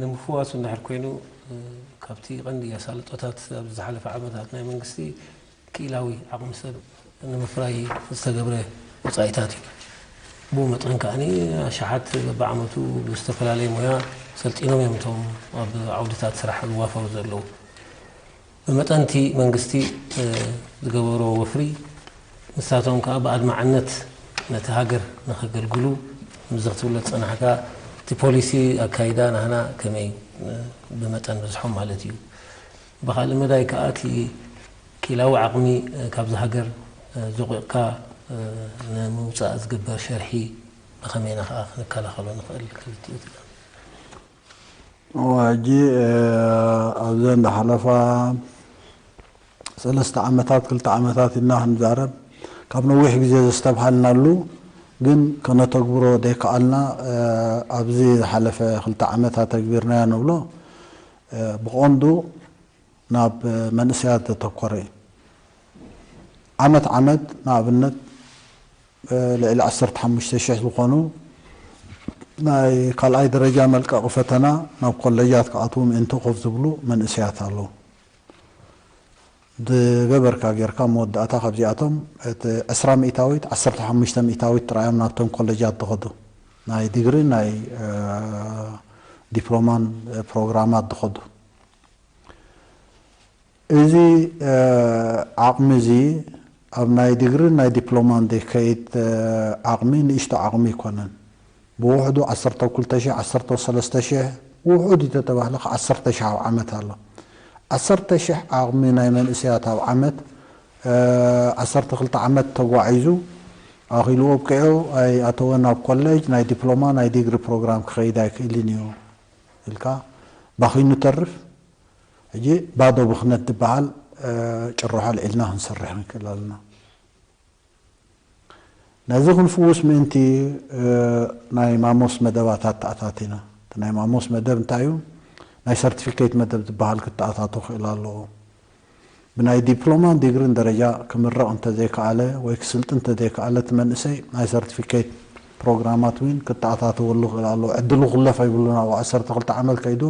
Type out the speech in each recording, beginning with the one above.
ንምፍዋሱ እንድሕር ኮይኑ ካብቲ ቀንዲ ኣሳልጦታት ኣብዚ ዝሓለፈ ዓመታት ናይ መንግስቲ ክኢላዊ ዓቕሚ ሰብ ንምፍራይ ዝተገብረ ወጻኢታት እዩ። ብኡ መጠን ከኣ ኣሽሓት በብዓመቱ ብዝተፈላለየ ሞያ ሰልጢኖም እዮም እቶም ኣብ ዓውድታት ስራሕ ዝዋፈሩ ዘለዉ። ብመጠን እቲ መንግስቲ ዝገበሮ ወፍሪ ንሳቶም ከኣ ብኣድማዕነት ነቲ ሃገር ንኸገልግሉ ምስዚ ክትብሎ ዝጸናሕካ እቲ ፖሊሲ ኣካይዳ ናህና ከመይ ብመጠን በዝሖም ማለት እዩ። ብኻልእ መዳይ ከኣ እቲ ኪላዊ ዓቕሚ ካብዛ ሃገር ዞቒቕካ ንምውጻእ ዝግበር ሸርሒ ብኸመይ ኢና ከኣ ክንከላኸሎ ንኽእል ክብል ትብል እሞ ሕጂ ኣብዘን ዝሓለፋ ሰለስተ ዓመታት ክልተ ዓመታት ኢልና ክንዛረብ ካብ ነዊሕ ግዜ ዘስተብሃልናሉ ግን ከነተግብሮ ዘይከኣልና ኣብዚ ዝሓለፈ ክልተ ዓመት ኣተግቢርናዮ ንብሎ ብቐንዱ ናብ መንእሰያት ዘተኮረ እዩ። ዓመት ዓመት ንኣብነት ልዕሊ ዓሰርተ ሓሙሽተ ሽሕ ዝኾኑ ናይ ካልኣይ ደረጃ መልቀቒ ፈተና ናብ ኮለጃት ክኣትዉ ምእንቲ ኮፍ ዝብሉ መንእሰያት ኣለዉ። ዝገበርካ ጌርካ መወዳእታ ካብዚኣቶም እቲ ዕስራ ሚእታዊት ዓሰርተ ሓሙሽተ ሚእታዊት ጥራይ እዮም ናብቶም ኮለጃት ዝኸዱ ናይ ዲግሪን ናይ ዲፕሎማን ፕሮግራማት ዝኸዱ እዚ ዓቕሚ እዚ ኣብ ናይ ዲግሪን ናይ ዲፕሎማን ዝከይድ ዓቕሚ ንእሽቶ ዓቕሚ ኣይኮነን። ብውሕዱ ዓሰርተው ክልተ ሽሕ ዓሰርተው ሰለስተ ሽሕ ብውሑድ ኢተተባህለ ክኣ ዓሰርተ ሽሕ ኣብ ዓመት ኣሎ ዓሰርተ ሽሕ ዓቕሚ ናይ መንእሰያት ኣብ ዓመት ዓሰርተ ክልተ ዓመት ተጓዒዙ ኣኺሉ ኣብቂዑ ኣይኣተወን ኣብ ኮለጅ ናይ ዲፕሎማ ናይ ዲግሪ ፕሮግራም ክኸይድ ኣይክእልን ኢዩ ኢልካ ባኺኑ ተርፍ ሕጂ ባዶ ብኽነት ድበሃል ጭርሖ ኣልዒልና ክንሰርሕ ንክእል ኣለና። ነዚ ክንፍውስ ምእንቲ ናይ ማሞስ መደባት ኣተኣታቲና። እቲ ናይ ማሞስ መደብ እንታይ እዩ? ናይ ሰርቲፊኬት መደብ ዝበሃል ክተኣታቶ ክእል ኣለዎ። ብናይ ዲፕሎማን ዲግሪን ደረጃ ክምረቕ እንተዘይከኣለ ወይ ክስልጥን እንተዘይከኣለ እቲ መንእሰይ ናይ ሰርቲፊኬት ፕሮግራማት እውን ክተኣታተወሉ ክእል ኣለዎ። ዕድሉ ክለፎ የብሉን ኣብ ዓሰርተ ክልተ ዓመት ከይዱ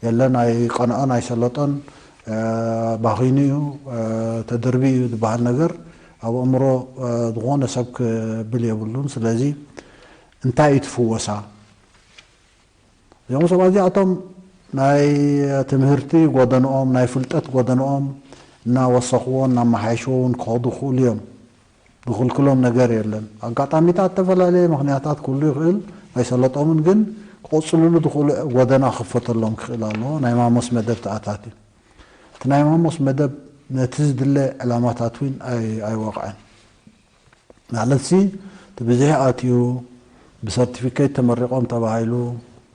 የለን ኣይቀንዖን ኣይሰለጦን ባኺኑ እዩ፣ ተደርብዩ እዩ ዝበሃል ነገር ኣብ ኣእምሮ ዝኾነ ሰብ ክብል የብሉን። ስለዚ እንታይ እዩ እቲ ፍወሳ? እዚኦም ሰባት እዚኣቶም ናይ ትምህርቲ ጎደንኦም፣ ናይ ፍልጠት ጎደንኦም እናወሰኽዎ እናመሓየሽዎ እውን ክኸዱ ይኽእሉ እዮም። ንክልክሎም ነገር የለን ኣጋጣሚታት ተፈላለየ ምክንያታት ክህሉ ይክእል ኣይሰለጦምን ግን ክቅፅልሉ ዝክእሉ ጎደና ክክፈተሎም ክክእል ኣለዎ ናይ ማሞስ መደብ ተኣታትዩ እቲ ናይ ማሞስ መደብ ነቲ ዝድለ ዕላማታት ዊን ኣይወቅዐን ማለትሲ እቲ ብዝሒ ኣትዩ ብሰርቲፊኬት ተመሪቆም ተባሂሉ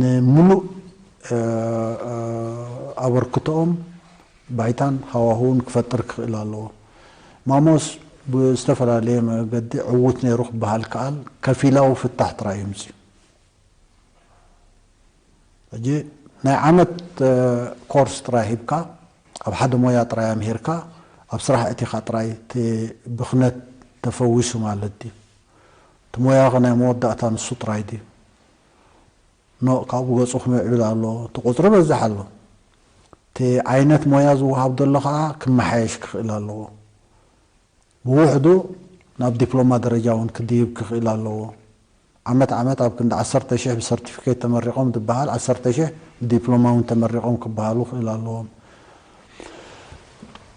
ንምሉእ ኣበርክቶኦም ባይታን ሃዋህውን ክፈጥር ክኽእል ኣለዎ። ማሞስ ብዝተፈላለየ መገዲ ዕዉት ነይሩ ክበሃል ይከኣል፣ ከፊላዊ ፍታሕ ጥራይ እዩ ኣምጺኡ። ሕጂ ናይ ዓመት ኮርስ ጥራይ ሂብካ፣ ኣብ ሓደ ሞያ ጥራይ ኣምሂርካ ኣብ ስራሕ ኣእቲኻ ጥራይ እቲ ብኽነት ተፈዊሱ ማለት ድዩ? እቲ ሞያኸ ናይ መወዳእታ ንሱ ጥራይ ድዩ? ኖእ ካብኡ ገጹ ክምዕብል ኣሎ እቲ ቁጽሪ በዝሕ ኣሎ እቲ ዓይነት ሞያ ዝወሃብ ዘሎ ከኣ ክመሓየሽ ክኽእል ኣለዎ ብውሕዱ ናብ ዲፕሎማ ደረጃ ውን ክድይብ ክኽእል ኣለዎ ዓመት ዓመት ኣብ ክንዲ ዓሰርተ ሽሕ ብሰርቲፊኬት ተመሪቖም ድበሃል ዓሰርተ ሽሕ ብዲፕሎማ ውን ተመሪቖም ክበሃሉ ክእል ኣለዎም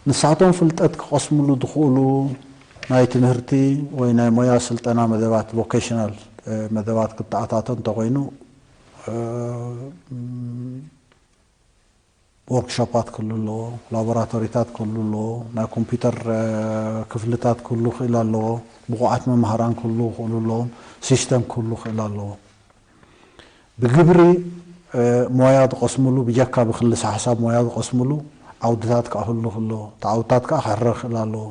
ንሳቶም ፍልጠት ክቐስምሉ ዝኽእሉ ናይ ትምህርቲ ወይ ናይ ሞያ ስልጠና መደባት፣ Vocational፣ መደባት ክተኣታቶ እንተኾይኑ ዎርክሾፓት ክህሉ ኣለዎ፣ ላቦራቶሪታት ክህሉ ኣለዎ፣ ናይ ኮምፒዩተር ክፍልታት ክህሉ ክእል ኣለዎ፣ ብቑዓት መማህራን ክህሉ ክእሉ ኣለዎም፣ ሲስተም ክህሉ ክእል ኣለዎ። ብግብሪ ሞያ ዝቐስምሉ ብጀካ ብክልሰሓሳብ ሞያ ዝቐስምሉ ዓውድታት ክኣህልኽ ኣለዎ። እቲ ዓውድታት ከኣ ክሕረ ክኽእል ኣለዎ።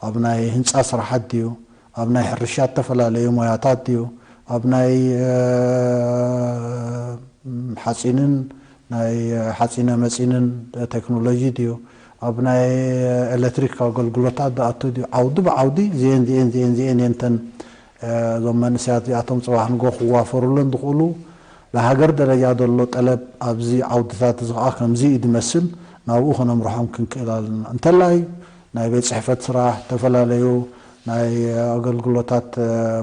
ኣብ ናይ ህንጻ ስራሓት ድዩ፣ ኣብ ናይ ሕርሻ እተፈላለየ ሞያታት ድዩ፣ ኣብ ናይ ሓጺንን ናይ ሓጺነ መጺንን ተክኖሎጂ ድዩ፣ ኣብ ናይ ኤለትሪክ ኣገልግሎታት ዝኣቱ ድዩ፣ ዓውዲ ብዓውዲ እዚኤን እዚኤን እዚኤን እዚኤን እየን እተን እዞም መንእሰያት እዚኣቶም ጽባሕ ንግሆ ክዋፈሩለን ዝኽእሉ ናይ ሃገር ደረጃ ዘሎ ጠለብ ኣብዚ ዓውድታት እዚ ከኣ ከምዚ እዩ ዝመስል ናብኡ ከነምርሖም ክንክእል ኣለና። እንተላይ ናይ ቤት ጽሕፈት ስራሕ፣ ዝተፈላለዩ ናይ ኣገልግሎታት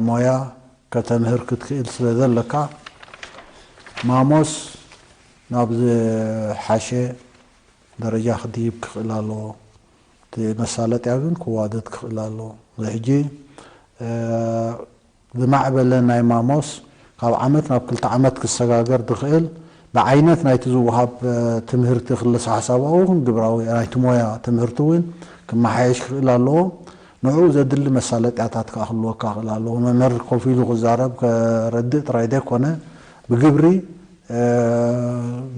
ሞያ ከተምህር ክትክእል ስለ ዘለካ ማሞስ ናብ ዝሓሸ ደረጃ ክድይብ ክኽእል ኣለዎ። እቲ መሳለጥያ ግን ክዋደድ ክኽእል ኣለዎ። እዚ ሕጂ ዝማዕበለ ናይ ማሞስ ካብ ዓመት ናብ ክልተ ዓመት ክሰጋገር ዝኽእል ብዓይነት ናይቲ ዝወሃብ ትምህርቲ ክልሰሓሳባዊ ይኹን ግብራዊ ናይቲ ሞያ ትምህርቲ እውን ክመሓየሽ ክኽእል ኣለዎ። ንዕኡ ዘድሊ መሳለጥያታት ከኣ ክህልወካ ክኽእል ኣለዎ። መምህር ኮፍ ኢሉ ክዛረብ ከረድእ ጥራይ ዘይኮነ ብግብሪ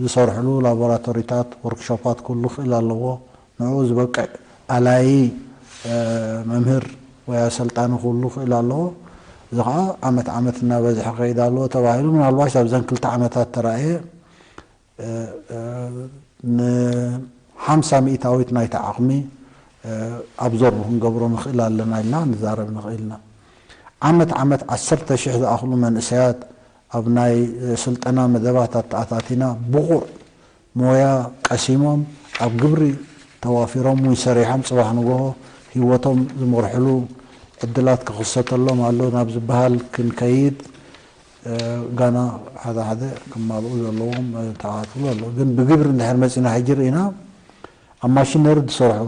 ዝሰርሕሉ ላቦራቶሪታት፣ ወርክሾፓት ክህሉ ክኽእል ኣለዎ። ንዕኡ ዝበቅዕ ኣላዪ መምህር ወይ ኣሰልጣኒ ክህሉ ክእል ኣለዎ። እዚ ከኣ ዓመት ዓመት እናበዝሐ ክኸይድ ኣለዎ ተባሂሉ ምናልባሽ ኣብዘን ክልተ ዓመታት ተራእየ ን ሓምሳ ሚእታዊት ናይቲ ዓቕሚ ኣብዞርብ ክንገብሮ ንክእል ኣለና ኢልና ክንዛረብ ንክእል ኢና። ዓመት ዓመት ዓሰርተ ሽሕ ዝኣኽሉ መንእሰያት ኣብ ናይ ስልጠና መደባት ኣተኣታቲና ብቑዕ ሞያ ቀሲሞም ኣብ ግብሪ ተዋፊሮም ወይ ሰሪሖም ፅባሕ ንጎሆ ህይወቶም ዝመርሕሉ ዕድላት ክኽሰተሎም ኣሎ ናብ ዝበሃል ክንከይድ ጋና ሓደ ሓደ ክማልኡ ዘለዎም ተዓፅሎ ኣሎ ግን ብግብሪ እንድሕር መፂና ሕጂ ርኢና ኣብ ማሽነሪ ዝሰርሑ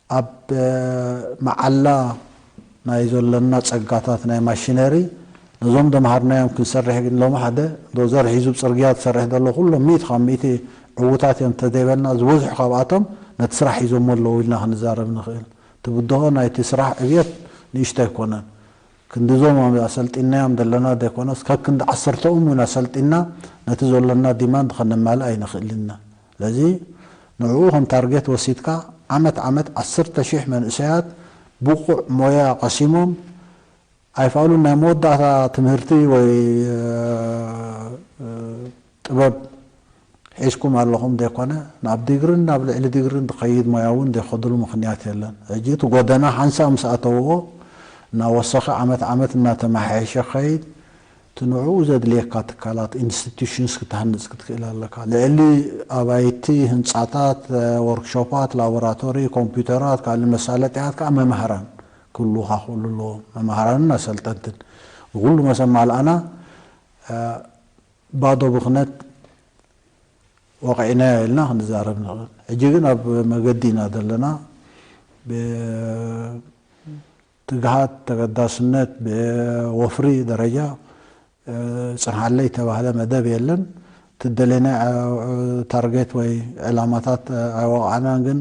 ኣብ መዓላ ናይ ዘሎና ጸጋታት ናይ ማሽነሪ ነዞም ደምሃርናዮም ክንሰርሕ ግን ሎሚ ሓደ ዶዘር ሒዙ ጽርግያ ዝሰርሕ ዘሎ ኩሎም ሚእቲ ካብ ሚእቲ ዕዉታት እዮም እንተዘይበልና ዝበዝሑ ካብኣቶም ነቲ ስራሕ ሒዞሞ ኣለዉ ኢልና ክንዛረብ ንኽእል እቲ ብድሆ ናይቲ ስራሕ ዕብየት ንእሽቶ ኣይኮነን ክንዲ እዞም ኣሰልጢንናዮም ዘለና ዘይኮነስ ከክንዲ ዓሰርተኦም እውን ኣሰልጢንና ነቲ ዘሎና ዲማንድ ከነማልእ ኣይንኽእልን ኢና ስለዚ ንዕኡ ከም ታርጌት ወሲድካ ዓመት ዓመት ዓሰርተ ሽሕ መንእሰያት ብቑዕ ሞያ ቀሲሞም ኣይፋሉን ናይ መወዳእታ ትምህርቲ ወይ ጥበብ ሒዝኩም ኣለኹም ዘይኮነ ናብ ዲግርን ናብ ልዕሊ ዲግርን ዝኸይድ ሞያ እውን ዘይኸድሉ ምኽንያት የለን። ሕጂ እቲ ጎደና ሓንሳእ ምስ ኣተውዎ እናወሰኸ ዓመት ዓመት እናተመሓየሸ ክኸይድ እቲ ንዕኡ ዘድልየካ ትካላት፣ Institutions፣ ክትሃንጽ ክትክእል ኣለካ። ልዕሊ ኣባይቲ፣ ህንጻታት፣ ዎርክሾፓት፣ ላቦራቶሪ፣ ኮምፕዩተራት፣ ካልእ መሳለጥያታት ከኣ መማህራን ክህልዉኻ ክእሉ ኣለዎም። መማህራንን ኣሰልጠንትን ንኹሉ መስ ኣማልኣና ባዶ ብኽነት ወቒዕናዮ ኢልና ክንዛረብ ንኽእል። ሕጂ ግን ኣብ መገዲ ኢና ዘለና። ትግሃት፣ ተገዳስነት፣ ብወፍሪ ደረጃ ጽንሓለይ እተባህለ መደብ የለን። እቲ ዝደለናዮ ታርጌት ወይ ዕላማታት ኣይወቓዕናን ግን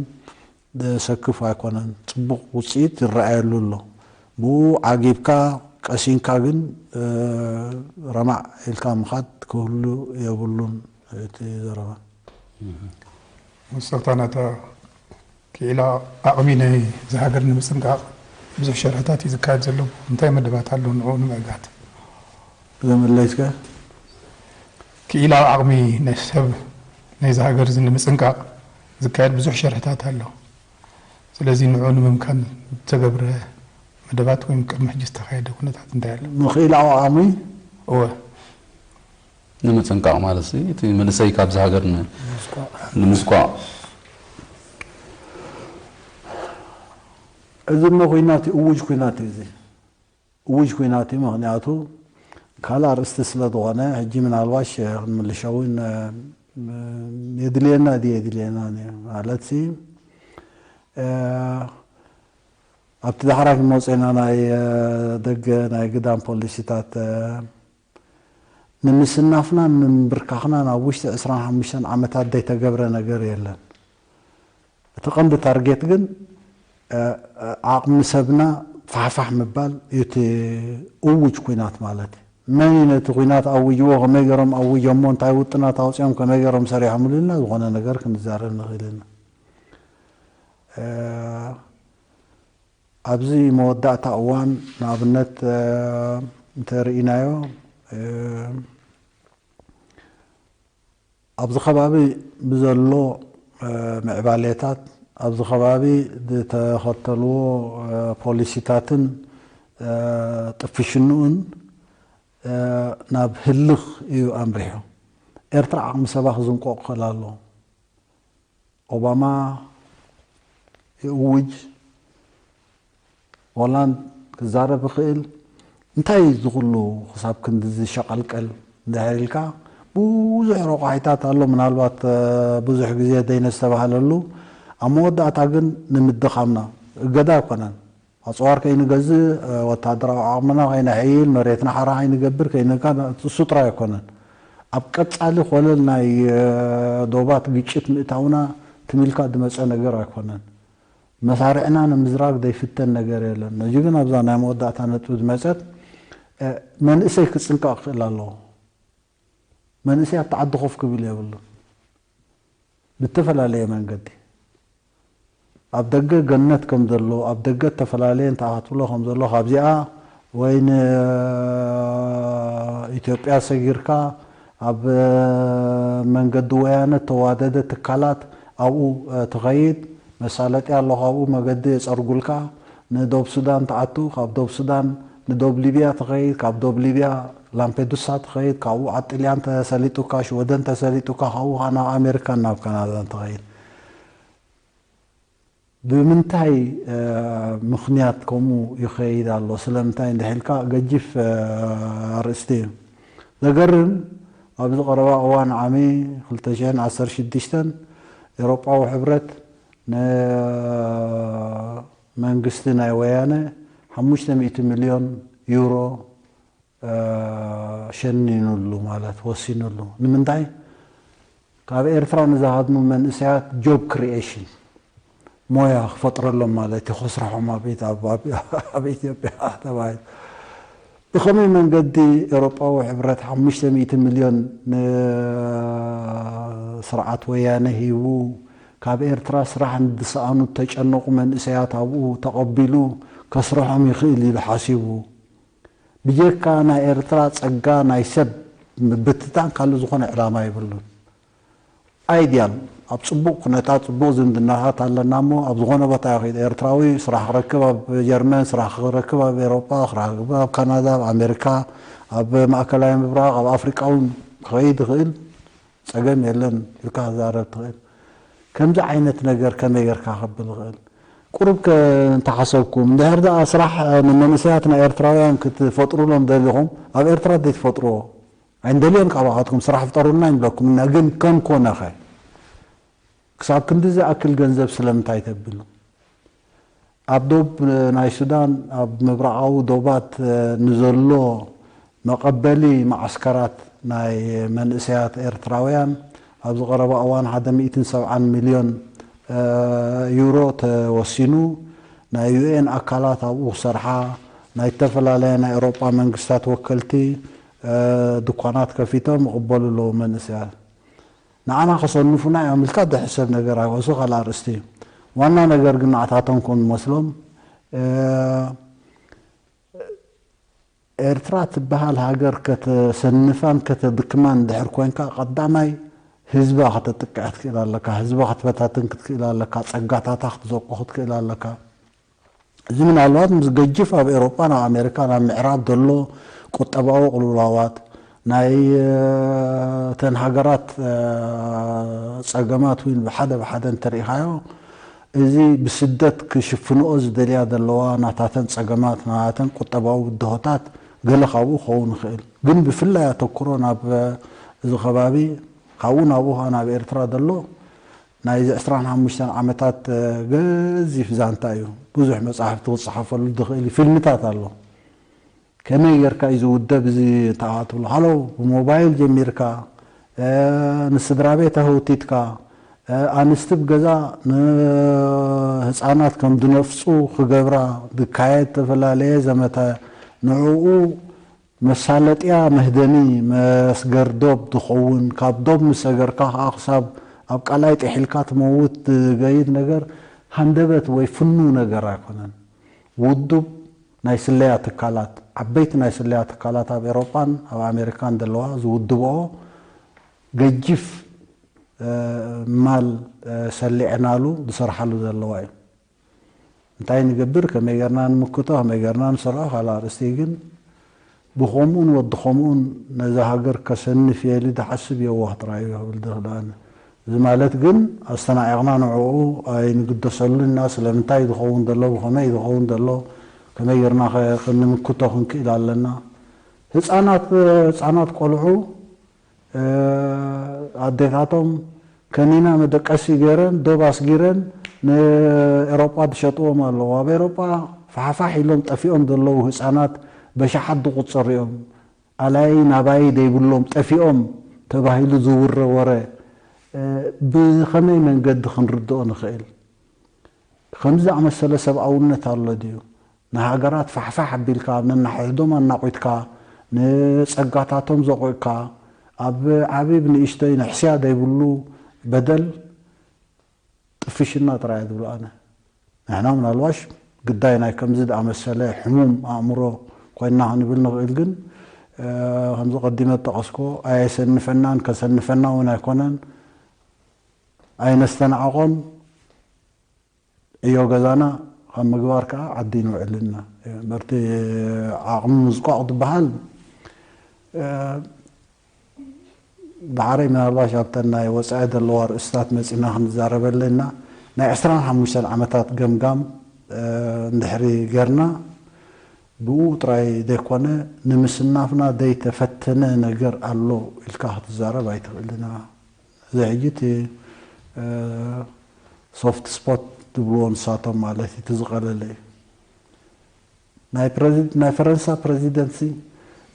ዘሰክፍ ኣይኮነን። ጽቡቕ ውጽኢት ይረኣየሉ ኣሎ። ብኡ ዓጊብካ ቀሲንካ ግን ረማዕ ኢልካ ምኻድ ክህሉ የብሉን እቲ ዘረባ። መወሰኽታ ናይታ ክኢላ ዓቕሚ ናይ'ዛ ሃገር ንምጽንቃቕ ብዙሕ ሸርሕታት እዩ ዝካየድ ዘሎ፣ እንታይ መደባት ኣሎ ንዕኡ ንምዕጋት? እዛ መላይትካ ክኢላ ዓቕሚ ናይ ሰብ ናይ'ዛ ሃገር'ዚ ንምጽንቃቕ ዝካየድ ብዙሕ ሸርሕታት ኣሎ፣ ስለዚ ንዕኡ ንምምካን ዝተገብረ መደባት ወይም ቅድሚ ሕጂ ዝተኻየደ ኩነታት እንታይ ኣሎ? ንክኢላዊ ዓቕሚ? እወ። ንምጥንቃቕ ማለትሲ እቲ መንእሰይ ካብዚ ሃገር ንምስኳዕ። እዚ እሞ ኩናት እዩ እዉጅ ኩናት እዩ እዚ እዉጅ ኩናት እዩ ምክንያቱ ካልእ ኣርእስቲ ስለ ዝኮነ ሕጂ ምናልባሽ ክንምልሾ ውን የድልየና ድዩ የድልየናን እዩ ማለትሲ ኣብቲ ዳሕራይ ክንመጾ ኢና ናይ ደገ ናይ ግዳም ፖሊሲታት ንምስናፍናን ንምንብርካኽናን ኣብ ውሽጢ ዕስራን ሓሙሽተን ዓመታት ዘይተገብረ ነገር የለን። እቲ ቀንዲ ታርጌት ግን ዓቕሚ ሰብና ፋሕፋሕ ምባል እዩ እቲ እዉጅ ኲናት ማለት እዩ። መን እዩ ነቲ ኲናት ኣዊጅዎ፣ ከመይ ገይሮም ኣዊጀሞ፣ እንታይ ውጥናት ኣውጺኦም፣ ከመይ ገይሮም ሰሪሖምሉ ኢልና ዝኾነ ነገር ክንዛረብ ንኽእል ኢና። ኣብዚ መወዳእታ እዋን ንኣብነት እንተ ርኢናዮ ኣብዚ ከባቢ ብዘሎ ምዕባሌታት ኣብዚ ከባቢ ዝተኸተልዎ ፖሊሲታትን ጥፍሽንኡን ናብ ህልኽ እዩ ኣምሪሑ። ኤርትራ ዓቕሚ ሰባ ክዝንቆቕ ክኽእል ኣለዎ። ኦባማ ይእውጅ ዋላ ክዛረብ ይኽእል እንታይ እዩ እዚ ኩሉ ክሳብ ክንድዚ ሸቐልቀል እንድሕር ኢልካ ብዙሕ ረቋሒታት ኣሎ ምናልባት ብዙሕ ግዜ ዘይነስተባህለሉ ኣብ መወዳእታ ግን ንምድኻምና እገዳ ኣይኮነን ኣጽዋር ከይንገዝእ፣ ወተሃደራዊ ዓቕምና ከይነሐይል፣ መሬትና ሓራ ከይንገብር፣ ከይንካእ፣ እሱ ጥራይ ኣይኮነን። ኣብ ቀጻሊ ኮለል ናይ ዶባት ግጭት ምእታውና ትም ኢልካ ዝመጸ ነገር ኣይኮነን። መሳርዕና ንምዝራግ ዘይፍተን ነገር የለን። ሕጂ ግን ኣብዛ ናይ መወዳእታ ነጥቢ ዝመጸት መንእሰይ ክጽንቀቕ ክኽእል ኣለዎ። መንእሰይ ኣብቲ ዓዲ ኮፍ ክብል የብሉን። ብእተፈላለየ መንገዲ ኣብ ደገ ገነት ከም ዘሎ፣ ኣብ ደገ እተፈላለየ እንተ ኣካትብሎ ከም ዘሎ፣ ካብዚኣ ወይ ንኢትዮጵያ ሰጊርካ ኣብ መንገዲ ወያነ እተዋደደ ትካላት ኣብኡ ትኸይድ፣ መሳለጥያ ኣሎ ካብኡ መገዲ የጸርጉልካ፣ ንዶብ ሱዳን ትኣቱ ካብ ዶብ ሱዳን ንዶብ ሊብያ ትኸይድ ካብ ዶብ ሊብያ ላምፔዱሳ ትኸይድ ካብኡ ኣብ ጥልያን ተሰሊጡካ ሽወደን ተሰሊጡካ ካብኡ ከኣ ናብ ኣሜሪካን ናብ ካናዳን ትኸይድ ብምንታይ ምኽንያት ከምኡ ይኸይድ ኣሎ ስለምንታይ እንድሕ ኢልካ ገጂፍ ኣርእስቲ እዩ ዘገርም ኣብዚ ቀረባ እዋን ዓሚ ክልተ ሽሕን ዓሰርተ ሽዱሽተን ኤሮጳዊ ሕብረት ን መንግስቲ ናይ ወያነ ሓሙሽተ ሚእቲ ሚልዮን ዩሮ ሸኒኑሉ ማለት ወሲኑሉ ንምንታይ ካብ ኤርትራ ንዝሃድሙ መንእሰያት ጆብ ክሪኤሽን ሞያ ክፈጥረሎም ማለት እዩ ከስርሖም ኣብ ኢትዮጵያ ተባሂሉ ብኸመይ መንገዲ ኤሮጳዊ ሕብረት ሓሙሽተ ሚእቲ ምልዮን ንስርዓት ወያነ ሂቡ፣ ካብ ኤርትራ ስራሕ ንድሰኣኑ እተጨነቑ መንእሰያት ኣብኡ ተቐቢሉ ከስርሖም ይኽእል ኢሉ ሓሲቡ? ብጀካ ናይ ኤርትራ ጸጋ ናይ ሰብ ምብትታን ካልእ ዝኾነ ዕላማ የብሉን። ኣይዲያል ኣብ ጽቡቅ ኩነታት ጽቡቅ ዝምድናታት ኣለና እሞ ኣብ ዝኮነ ቦታ ይኪድ ኤርትራዊ ስራሕ ክረክብ ኣብ ጀርመን ስራሕ ክረክብ ኣብ ኤሮጳ ክራክብ ኣብ ካናዳ ኣብ ኣሜርካ ኣብ ማእከላይ ምብራቅ ኣብ ኣፍሪቃ ውን ክከይድ ይክእል ጸገም የለን ኢልካ ክዛረብ ትክእል ከምዚ ዓይነት ነገር ከመይ ገርካ ከብል ይክእል ቁሩብ ከ እንተ ሓሰብኩም እንድሕር ደኣ ስራሕ ንመንእሰያትና ኤርትራውያን ክትፈጥሩሎም ደሊኩም ኣብ ኤርትራ ደይ ትፈጥርዎ ኣይንደልዮን ካባኻትኩም ስራሕ ፍጠሩልና ኣይንብለኩምን እና ግን ከም ኮነኸ ክሳብ ክንዲ ዝኣክል ገንዘብ ስለምንታይ ተብሉ ኣብ ዶብ ናይ ሱዳን ኣብ ምብራቓዊ ዶባት ንዘሎ መቐበሊ መዓስከራት ናይ መንእሰያት ኤርትራውያን ኣብዚ ቀረባ እዋን ሓደ ሚእትን ሰብዓን ሚልዮን ዩሮ ተወሲኑ ናይ ዩኤን ኣካላት ኣብኡ ክሰርሓ ናይ እተፈላለያ ናይ ኤሮጳ መንግስታት ወከልቲ ድኳናት ከፊቶም ይቕበሉ ኣለዉ መንእሰያት። ንዓና ከሰንፉና እዮም ኢልካ ትሕሰብ ነገር ኣይኮን እሱ ካልእ ኣርእስቲ እዩ። ዋና ነገር ግን ንዓታቶም ከም ዝመስሎም ኤርትራ ትበሃል ሃገር ከተሰንፋን ከተድክማን እንድሕር ኮንካ ቀዳማይ ህዝባ ከተጥቅዕ ክትክእል ኣለካ፣ ህዝባ ክትበታትን ክትክእል ኣለካ፣ ጸጋታታ ክትዘቁ ክትክእል ኣለካ። እዚ ምናልባት ምስ ገጅፍ ኣብ ኤሮጳን ኣብ ኣሜሪካን ኣብ ምዕራብ ዘሎ ቁጠባዊ ቅልውላዋት፣ ናይ እተን ሃገራት ጸገማት ውን ብሓደ ብሓደ እንተርኢኻዮ እዚ ብስደት ክሽፍንኦ ዝደልያ ዘለዋ ናታተን ጸገማት ናተን ቁጠባዊ ብድሆታት ገለ ካብኡ ክኸውን ይኽእል። ግን ብፍላይ ኣተኩሮ ናብ እዚ ከባቢ ካብኡ ናብኡ ከኣ ናብ ኤርትራ ዘሎ ናይዚ ዕስራን ሓሙሽተን ዓመታት ገዚፍ ዛንታ እዩ። ብዙሕ መጻሕፍቲ ክጸሓፈሉ ዝኽእል እዩ። ፊልምታት ኣሎ። ከመይ ጌርካ እዩ ዝውደብ እዚ እንተኣ ትብሎ፣ ሃሎ ብሞባይል ጀሚርካ ንስድራቤት ኣህውቲትካ፣ ኣንስቲ ብ ገዛ ንህጻናት ከም ዝነፍጹ ክገብራ ዝካየድ እተፈላለየ ዘመተ ንዕኡ መሳለጥያ መህደሚ መስገር ዶብ ትኸውን፣ ካብ ዶብ ምስ ሰገርካ ከኣ ክሳብ ኣብ ቀላይ ጢሒልካ ትመውት ዝገይድ ነገር ሃንደበት ወይ ፍኑው ነገር ኣይኮነን። ውዱብ ናይ ስለያ ትካላት፣ ዓበይቲ ናይ ስለያ ትካላት ኣብ ኤሮጳን ኣብ ኣሜሪካን ዘለዋ ዝውድበኦ ገጂፍ ማል ሰሊዕናሉ ዝሰርሓሉ ዘለዋ እዩ። እንታይ ንገብር ከመይ ጌርና ንምክቶ ከመይ ጌርና ንሰርዖ ካልእ ኣርእስቲ እዩ ግን ብኸምኡን ወዲ ከምኡን ነዛ ሃገር ከሰንፍ እየ ኢሊ ድሓስብ የዋህ ጥራይ እዩ ክብል ዝኽእል ኣነ እዚ ማለት ግን ኣስተናዒቕና ንዕኡ ኣይንግደሰሉን ኢና ስለምንታይ እዩ ዝኸውን ዘሎ ብኸመይ እዩ ዝኸውን ዘሎ ከመይ ጌርና ከ ክንምክቶ ክንክእል ኣለና ህጻናት ህጻናት ቆልዑ ኣዴታቶም ከኒና መደቀሲ ገይረን ዶብ ኣስጊረን ንኤሮጳ ዝሸጥዎም ኣለዉ። ኣብ ኤሮጳ ፋሕፋሕ ኢሎም ጠፊኦም ዘለዉ ህጻናት በሽሓት ዝቑጸሩ እዮም። ኣላዪ ናባዪ ዘይብሎም ጠፊኦም ተባሂሉ ዝውረ ወረ ብኸመይ መንገዲ ክንርድኦ ንኽእል? ከምዚ ዝኣመሰለ ሰብኣውነት ኣሎ ድዩ? ንሃገራት ፋሕፋሕ ኣቢልካ ነናሕሕዶም ኣናቝትካ ንጸጋታቶም ዘቝዕካ ኣብ ዓብብ ንእሽተይ ንሕስያ ዘይብሉ በደል ጥፍሽና ጥራይ እየ ዝብሎ ኣነ። ንሕና ምናልባሽ ግዳይ ናይ ከምዚ ዝኣመሰለ ሕሙም ኣእምሮ ኰይንና ክንብል ንኽእል ግን ከምዚ ቀዲመ ዝጠቐስክዎ ኣየሰንፈናን ከሰንፈና እውን ኣይኰነን ኣይነስተናዕቖን። ዕዮ ገዛና ካብ ምግባር ከኣ ዓዲን ውዕልና በርቲ ዓቕሚ ምዝቋቕ ዝበሃል ደሓረይ ምናልባሽ ኣብተን ናይ ወጻኢ ዘለዋ ኣርእስታት መጺና ክንዛረበለን ኢና ናይ ዕስራን ሓሙሽተን ዓመታት ገምጋም እንድሕሪ ገርና ብኡ ጥራይ ዘይኮነ ንምስናፍና ዘይተፈተነ ነገር ኣሎ ኢልካ ክትዛረብ ኣይትኽእልን እዚ ሕጂ እቲ ሶፍት ስፖት ዝብልዎ ንሳቶም ማለት እዩ እቲ ዝቐለለ እዩ። ናይ ፈረንሳ ፕረዚደንትሲ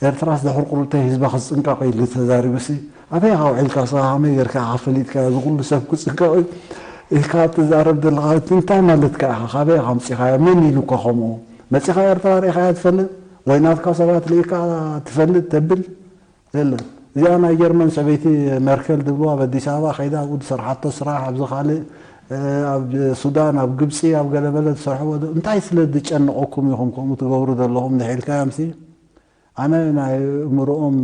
ኤርትራስ ድሕሪ ቁርብተይ ህዝባ ክጽንቀቕ ኢሉ ተዛሪቡሲ ኣበይ ኢኻ ውዒልካስ ከመይ ጌርካ ኢኻ ፈሊጥካዮ እዚ ኩሉ ሰብ ክጽንቀቕ እዩ ኢልካ ትዛረብ ዘለኻ እቲ እንታይ ማለትካ ኢኻ ካበይ ኢኻ ኣምጺኻዮ መን ኢሉካ ከምኡ መጺኻ ኤርትራ ርኢኻያ ትፈልጥ ወይ ናትካ ሰባት ርኢካ ትፈልጥ ተብል የለን እዚኣ ናይ ጀርመን ሰበይቲ ሜርኬል ዝብልዋ ኣብ ኣዲስ ኣበባ ከይዳ ኣብኡ ዝሰርሓቶ ስራሕ ኣብዚ ካልእ ኣብ ሱዳን ኣብ ግብጺ ኣብ ገለ መለ ዝሰርሕዎ ዶ እንታይ ስለ ዝጨንቐኩም ኢኹም ከምኡ ትገብሩ ዘለኹም እንድሕ ኢልካዮምሲ ኣነ ናይ ኣእምርኦም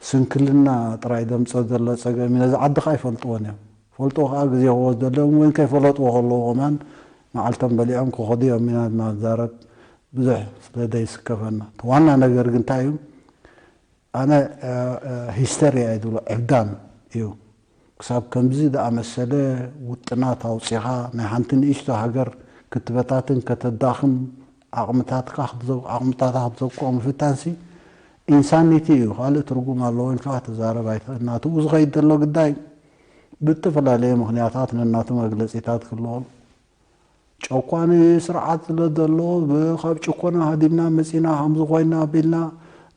ስንክልና ጥራይ ዘምጽኦ ዘሎ ጸገም እዩ ነዚ ዓድኻ ኣይፈልጥዎን እዮም ፈልጦ ከኣ ግዜ ክወስደሎም ወይ ከይፈለጥዎ ከለዉ ከማን መዓልቶም በሊዖም ክከዱ ኢዮም ኢና ድማ ንዛረብ ብዙሕ ስለ ዘይስከፈና እቲ ዋና ነገር ግን ታይ ኢዩ ኣነ ሂስተርያ ኢየ ዝብሎ ዕብዳን ኢዩ ክሳብ ከምዚ ዝኣመሰለ ውጥናት ኣውጺኻ ናይ ሓንቲ ንእሽቶ ሃገር ክትበታትን ከተዳኽም ዓቅምታትካ ዓቅምታታ ክትዘቅቆ ምፍታንሲ ኢንሳኒቲ ኢዩ ካልእ ትርጉም ኣለዎኢልካ ክትዛረብ ኣይትክእልንኣትብኡ ዝከይድ ዘሎ ግዳይ ብእተፈላለየ ምኽንያታት ነናቱ መግለጺታት ክህልዎም፣ ጨቋኒ ስርዓት ስለ ዘሎ፣ ብካብ ጭኮና ሃዲምና መጺእና ከምዚ ኮይና ኣቢልና፣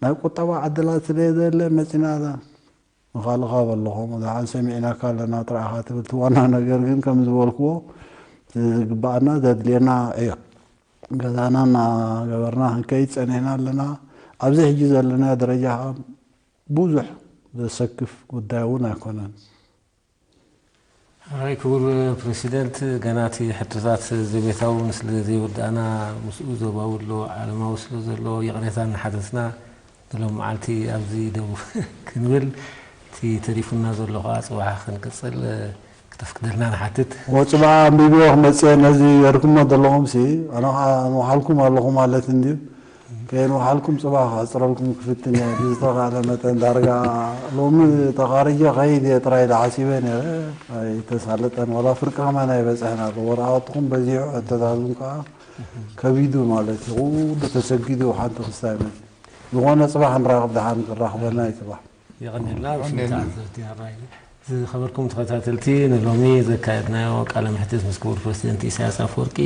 ናይ ቁጠባ ዕድላት ስለ ዘየለ መጺእና እዛ። ንካልኻ በልኹ፣ ብዙሓን ሰሚዕናካ ኣለና ጥራይ ኢኻ ትብል፣ እቲ ዋና ነገር ግን ከም ዝበልክዎ እቲ ዝግብኣና ዘድልየና ዕዮ ገዛና እናገበርና ክንከይድ ጸኒሕና ኣለና፣ ኣብዚ ሕጂ ዘለናዮ ደረጃ ከኣ ብዙሕ ዘሰክፍ ጉዳይ እውን ኣይኮነን። ሐራይ ክቡር ፕረሲደንት ገና እቲ ሕቶታት ዘቤታዊ እውን ስለ ዘይወዳእና ምስኡ ዞባዊ ኣሎ ዓለማዊ ስለ ዘሎ ይቕሬታ እናሓተትና ንሎሚ መዓልቲ ኣብዚ ደው ክንብል እቲ ተሪፉና ዘሎ ከኣ ጽባሕ ክንቅጽል ክተፍቅደልና ንሓትት። ወጽ በኣ ኣንቢብዮ ክመጽእ እየ ነዚ ገርኩሞ ዘለኹም ሲ ኣነ ከኣ ኣንውሓልኩም ኣለኹ ማለት እንድዩ ከየንውሓልኩም ጽባሕ ክሕጽረልኩም ክፍትን እየ ብዝተኻእለ መጠን ዳርጋ ሎሚ ተኻሪጀ ክኸይድ እየ ጥራይ ኢለ ሓሲበ ኔረ ኣይተሳለጠን ዋላ ፍርቂ ከማን ኣይበጽሐን ኣሎ ወረቓቕትኹም በዚሑ ሕቶታትኩም ከኣ ከቢዱ ማለት እዩ ኩሉ ተሰጊዱ ሓንቲ ክስታይ መጺኡ ዝኾነ ጽባሕ ንራኽብ ደሓን ክራኽበና እዩ ጽባሕ የቐንየልና ውፉይ ተዓዘብቲ ኣራይ። ዝኸበርኩም ተኸታተልቲ ንሎሚ ዘካየድናዮ ቃለ መሕትት ምስ ክቡር ፕረሲደንት ኢሳያስ ኣፈወርቂ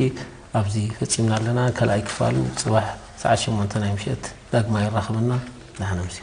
ኣብዚ ፈጺምና ኣለና። ካልኣይ ክፋል ጽባሕ ሰዓት ሸሞንተ ናይ ምሸት ዳግማይ የራኽበና። ደሓን ኣምስዩ።